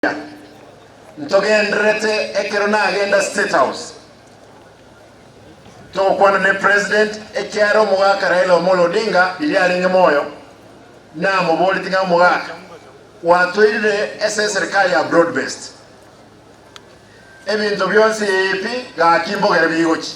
Kenya. Ntogendererete ekero nagenda State House togokwana ne President ekiara omogaka Raila Omolo Odinga riria arenge moyo, namoboreti ng'a omogaka gwatoirire ase eserikari ya broad based ebinto bionsi pi gaki mbogere bigochi.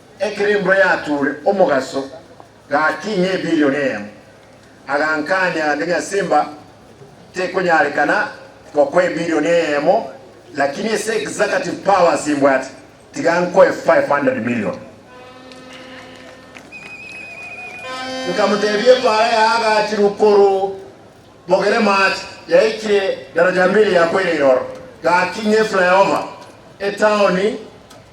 Ekerimbo yatuure omogaso gati ng'ebilioni eyemo. Agankania gati ng'a Simba tekonyarekana gokwa ebilioni eyemo lakini ase executive powers imbwate tiga nkoe 500 million. Nkamotebia epaara yaagachirwe korwa mogere maache yaikire daraja mbili yakoire iroro gati ng'eflyover etaoni.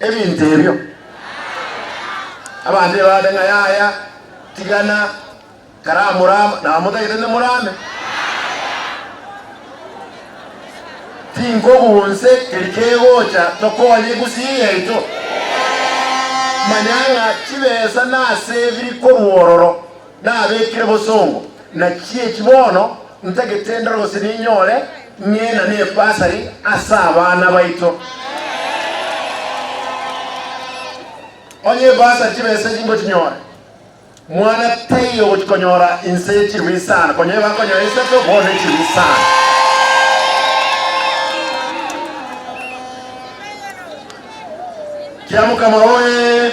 ebinto ebio. Abanto nibabaate ng'a, Yaya, tigana, karamorama, nabo motagete nemorame. Tinkobu onse keri kegocha tokonye gusii yaito. Manya ng'a chibesa nasebiri korwa ororo. Nabekire bosongo na chichi bono ntagete ndore gose ninyore ng'ina ne bursary ase abana baito. Onye ebursary chibesa echi ngochinyore, mwana taiyo ogochikonyora inse y'echirwi sana, konya igo akonyora isato bono n'echirwi sana. Kiamokama oye!